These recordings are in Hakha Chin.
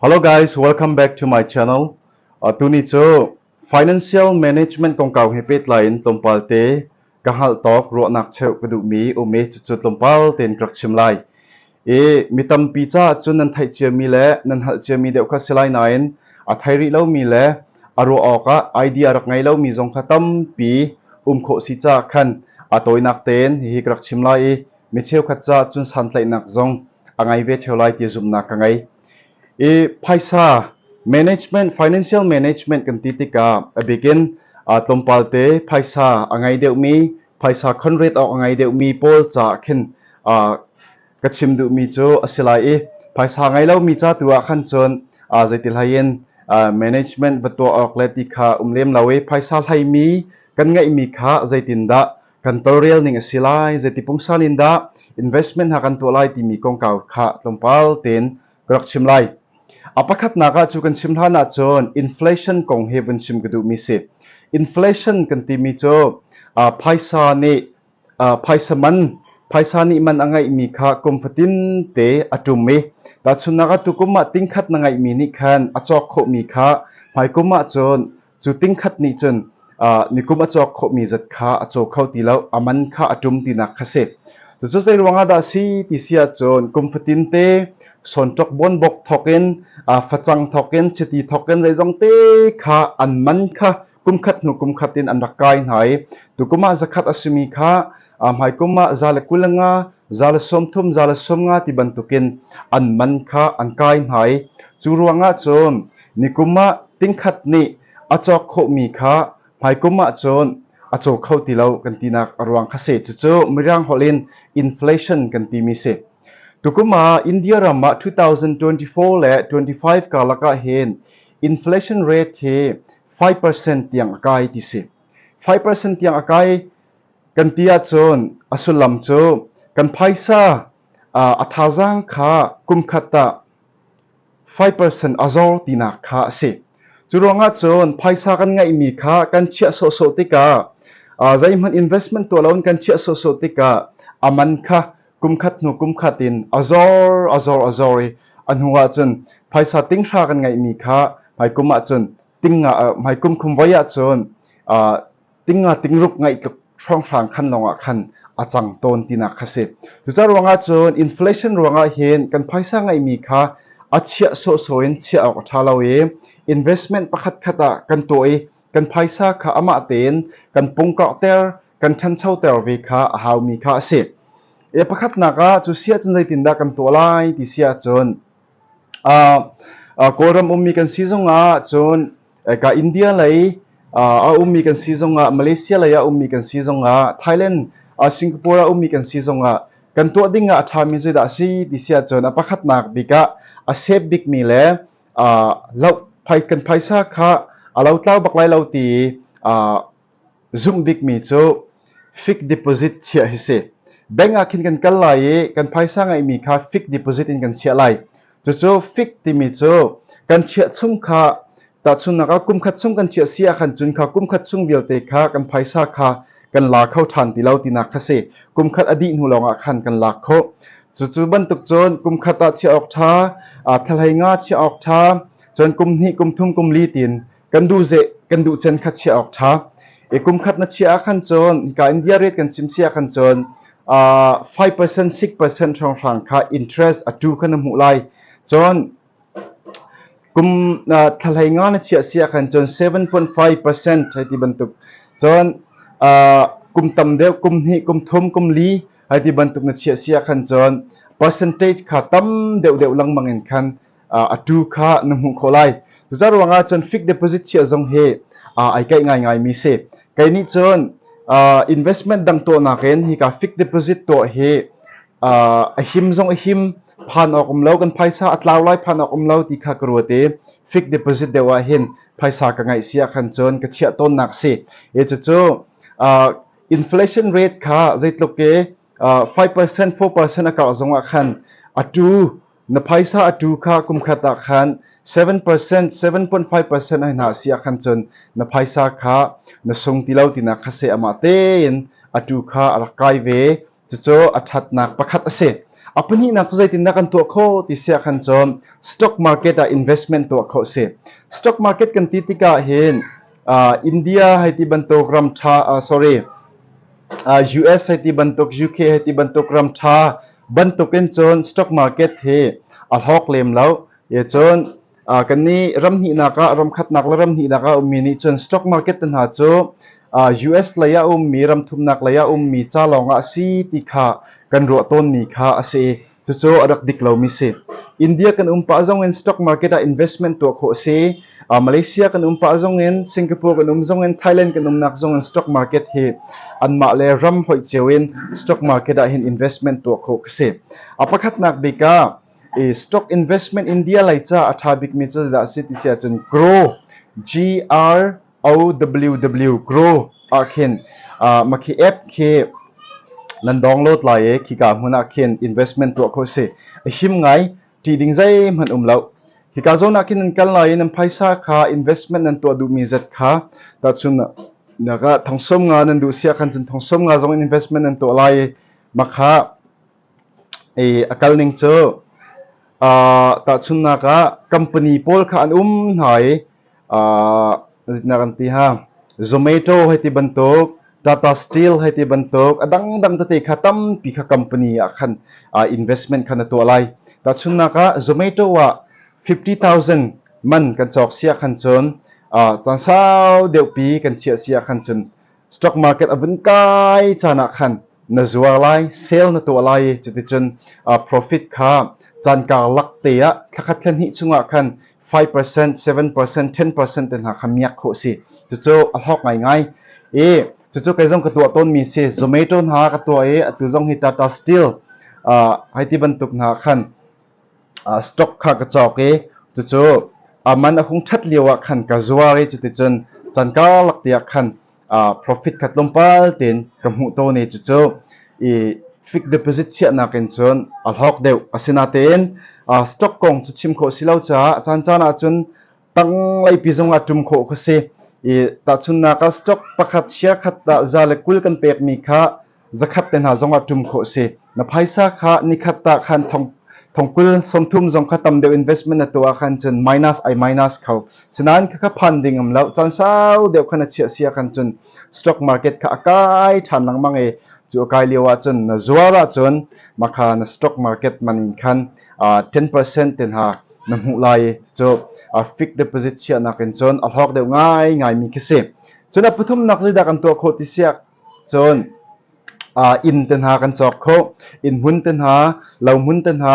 Hello guys, welcome back to my channel. Uh, tuni cu financial management kongkau he pehtlai in tlawmpal te ka hal tawk ruahnak cheu ka duhmi umi cucu tlawmpal tein ka rak chim lai. I mi tampi ca cun nan theih ciami le nan hal ciami deuh kha si lai nain a thei rih lomi le a ruah awk ah idea rak ngei lomi zong kha tampi um khawh si ca khan a tawinak tein hihi ka rak chim lai i mi cheukhat ca cun santlaihnak zong a ngei ve theo lai ti zumhnak ka ngei i phaisa management financial management kan ti tikah a bikin tlawmpal te phaisa a ngei deuhmi phaisa conrate awk a ngei deuhmi pawl ca khin ka chim duhmi cu a si lai i phaisa ngei lomi ca tu ah khan cun zeitil hain management va tuah awk le ti kha um lem lo i phaisa hlaimi kan ngeihmi kha zeitin dah kan tolrel ning a si lai. Zeiti pungsan in dah investment ha kan tuah lai timi kongkau kha tlawmpal tein ka rak chim lai. A pakhatnak ah cu kan chim hlan ahcun inflation kong he vun chim ka duhmi si. Inflation kan timi cu uh, phaisa nih uh, phaisa man phaisa nih man a ngeihmi kha kum fatin te a tum i tahchunnak a tukum ah tingkhat na ngeihmi nih khan a cawk khawhmi kha hmai kum ahcun Cu tingkhat nih cun nikum a cawk khawhmi zat kha a caw kho ti lo, a man kha a ṭum tinak kha si. Cucu zei ruangah dah si ti si ahcun kum fatin te sawnṭok bonbok thawkin facang thawkin chiti thawkin zeizong te kha an man kha kum khat hnu kum khat in an rak kai hna i tukum ah zakhat a simi kha A hmaikum ah za le kul a nga, za le sawm thum, za le sawm nga ti bantukin an man kha an kai hna i cu ruangah cun nikum ah tingkhat nih a cawk khawhmi kha hmaikum ah cun a caw kho ti lo kan tinak a ruang kha si. Cucu Mirang holh in inflation kan timi si. Tukum ah India ram ah 2024 le 25 karlak ah hin inflation rate hi 5% tiang a kai ti si. 5% tiang a kai Kan ti ahcun a sullam cu kan phaisa a thazaang kha kumkhat ah five percent a zor tinak kha a si. Cu ruangah cun phaisa kan ngeihmi kha kan chiah sawhsawh tikah zeihmanh investment tuah loin kan chiah sawhsawh tikah a man kha kumkhat hnu kumkhat in a zor a zor a zor i a hnu ahcun phaisa tinghra kan ngeihmi kha hmaikum ahcun ting hmaikum khum voi ahcun tingating ruk ngaih tluk hrawnghrang khan lawng ah khan a cang tawn tinak kha si. Cucaah ruangah cun inflation ruangah hin kan phaisa ngeihmi kha a chiah sawhsawh in chiah awk a ṭha lo i investment pakhat khat ah kan tuah i kan phaisa kha amah tein kan pungkawkter kan ṭhanchoter ve kha a haumi kha a si. E pakhatnak ah cu sia cun zeitindah kan tuah lai ti sia cun Kawlram ummi kan si zongah cun India lei a ummi kan si zongah Malaysia lei ah ummi kan si zongah Thailand Singapore ah ummi kan si zongah kan tuah dingah a ṭhami cu dah a si ti si ahcun a pakhatnak bik ah a sep bikmi le kan phaisa kha a lotlau bak lai lo ti Zumh bikmi cu fixed deposit chiah hi si. Bank ah khin kan kal lai i kan phaisa ngeihmi kha fixed deposit in kan chiah lai. Cucu fixed timi cu kan chiah chung kha tahchunnak ah kum khat chung kan chiah si ah khan cun kha kum khat chung vialte kha kan phaisa kha kan la kho ṭhan ti lo tinak kha si. Kum khat a dih hnu lawngah khan kan lak khawh. Cucu bantuk cun kum khat ah chiah awk ṭha, aa thlahlei nga chiah awk ṭha, cun kum hnih, kum thum, kum li tin kan duh ze kan duh chen khat chia awk tha e kum khat na chia khan cun ka india rate kan sim sia khan cun uh, 5% 6% hrang hrang kha interest atu kan mu lai cun kum thalai nga na chia sia khan cun 7.5% hai ti bantuk cun kum tam deuh kum hnih kum thum kum li hai ti bantuk na chia sia khan cun percentage kha tam deuh deuh lang mangin khan a tu kha na hmuh khawh lai. Cuca ruangah cun fixed deposit chiah zong hi ai kaih ngaingaimi si. Kei nih cun investment dang tuahnak in hika fixed deposit tuah hi a him zong a him phan awk um lo kan phaisa a tlau lai phan awk um lo ti kha ka ruat i fixed deposit deuh ah hin phaisa ka ngaih sia khan cun ka chiah tawnnak si e cucu inflation rate kha zeitluk ke 5% 4% a karh zong ah khan a tu Na phaisa a tu kha kumkhat ah khan seven percent seven point five percent hoi hna a si ah khan cun na phaisa kha na sung ti lo tinak kha seh amah tein a tu kha a rak kai ve cucu a ṭhatnak pakhat a si a pahnihnak cu zeitindah kan tuah khawh ti si ah khan cun stock market ah investment tuah khawh si stock market kan ti tikah hin uh, India hai ti bantuk ram tha uh, sorry uh, US hai ti bantuk UK hai ti bantuk ram tha bantukin cun stock market hi a hlok lem lo ye cun uh, kan ni ram hni naka ram khat nak la ram hni naka ummi ni cun stock market hna cu uh, US laya ummi ram thum nak laya ummi cha lawng a si ti kha kan ruah ton mi kha a si Cucu a rak dik lomi si. India kan um pah zong in stock market ah investment tuah khawh a si. Uh, Malaysia kan um pah zong in, Singapore kan um zong in, Thailand kan umnak zong in stock market hi anmah le ram hoi cio in stock market ah hin investment tuah khawh ka si. A pakhatnak bik ah, i stock investment India lai ca a tha bikmi cu dah si ti si ahcun grow, G-R OWW Grow ah khin uh, ma khi app khi nan download lai e khi ka hmun ah khin investment tuah kho si him ngai ti ding zai man um lo hi ka zona kin nan kal lai nan phaisa kha investment nan tuah du mi zat kha ta chun naga thongsom nga nan du sia khan chun thongsom nga zong investment nan tuah lai makha Ei a kal ning cu tahchunhnak ah company pawl kha an um hna i zeitindah kan ti hnga Zomato hei ti bantuk Tata Steel hei ti bantuk a dangdang tete kha tampi kha company ah khan investment khan a tuah lai. Tahchunhnak ah Zomato ah fifty thousand man kan cawk siah khan cun caan sau deuhpi kan chiah siah khan cun stock market a vun kai caan ah khan na zuar lai sale na tuah lai i cuticun uh, profit kha canka lak te ah thlakhat thlen hnih chungah khan 5% 7% 10% te hna kha miak kho si cucu a hlok ngai ngai i cucu kai zong ka tuah tawn mi si zomato hna ka tuah i atu zong hi tata steel uh, hai ti bantuk hna khan Stock kha ka cawk i cucu a man a hung ṭhat lioah khan ka zuar i cuticun can karlak tiah khan profit kha tlawmpal tein ka hmuh tawn i cucu i fixed deposit chiahnak in cun a hlawk deuh. Asinain stock kong cu chim khawh si lo caah caancaan ahcun tanglei zongah ṭum khawh khi a si. I tahchunhnak ah stock pakhat, share khat ah za le kul kan pekmi kha Zakhat te hna zongah ṭum khawh a si. Na phaisa kha nikhat ta khan thongkul sawmthum zong kha tam deuh investment na tuah ahkhan cun minus ai minus kho. Sinain kha kha phan ding um lo. Caan sau deuh khan a chiah si ahkhan cun stock market kha a kai ṭhan lengmang i cu a kai lio ahcun na zuar ahcun makha na stock market man in khan 10% te hna na hmuh lai cu fixed deposit chiahnak in cun a hlawk deuh ngai ngaimi khi si. Cun a pathum nak zeidah kan tuah khawh ti siak Cun inn te hna kan cawk khawh. Inn hmun te hna, lo hmun te hna,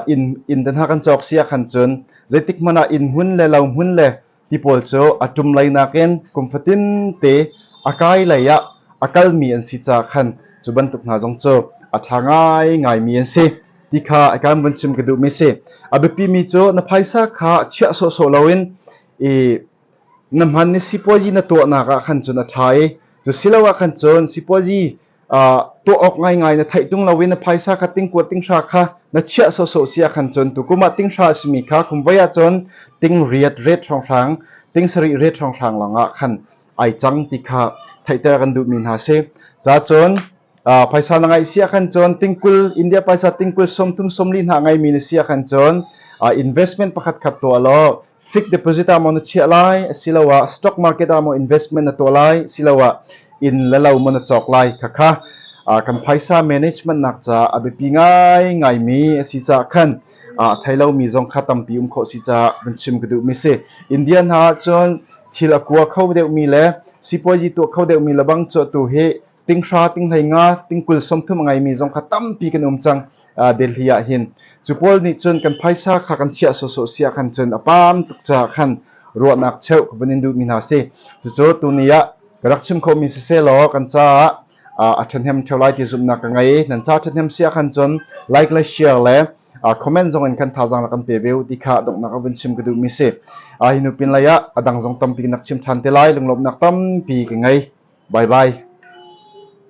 inn te hna kan cawk si ahkhan cun zeitik hmanh ah inn hmun le lo hmun le ti pawl cu a ṭum lei nakin kum fatin te a kai lei ah a kalmi an si caah khan cu bantuk hna zong cu a ṭha ngaingaimi an si ti kha i kan vun chim ka duhmi a si. A biapimi cu na phaisa kha chiah sawhsawh loin i Na hman i sipuazi na tuahnak ah khan cun a ṭha i cusiloah khan cun sipuazi ah tuah awk ngaingai na theih ṭung lo i na phaisa kha tingkuat tinghra kha na chiah sawhsawh si ah khan cun tukum ah tinghra a simi kha kum vai ah cun tingriat ret hrawnghrang ting sarih ret hrawnghrang lawngah khan ai cang ti kha theihter kan duhmi hna si cacun ah, phaisa na ngeih si ah khan cun tingkul india phaisa tingkul som thum som li hna ngeimi na si ah khan cun ah, investment pakhat khat tuah law fixed deposit ah maw na chiah lai asiloah stock market ah maw investment na tuah lai siloah inn le lo maw na cawk lai khakha kan phaisa management nak ca a biapi ngai ngai mi asi ca khan a thailo mi zong kha tampi um kho si ca ban chim ka duh mi si indian ha cun thil akua kho deuh mi le sipuaji tu kho deuh mi lebang cu tu hi tinghra, tinghhlei nga, tingkul sawmthum a ngeimi zong kha tampi kan um cang Delhi ah hin. Cu pawl nih cun kan phaisa kha kan chiah sawsawh sia khan cun a pam tuk caah khan ruahnak cheuh ka vun in duhmi hna si. Cucu tuni ah ka rak chim khomi si se law kan caah a ṭhahnem ṭheo lai ti zumhnak ka ngei. Nan ca ṭhahnem sia khan cun like le share le comment zong in kan thazang la kan pe ve ti kha donghnak a vun chim ka duh mi si a hinu pin lei ah a dang zong tampi nak chim than te lai lunglawmnak tampi ka ngei bye bye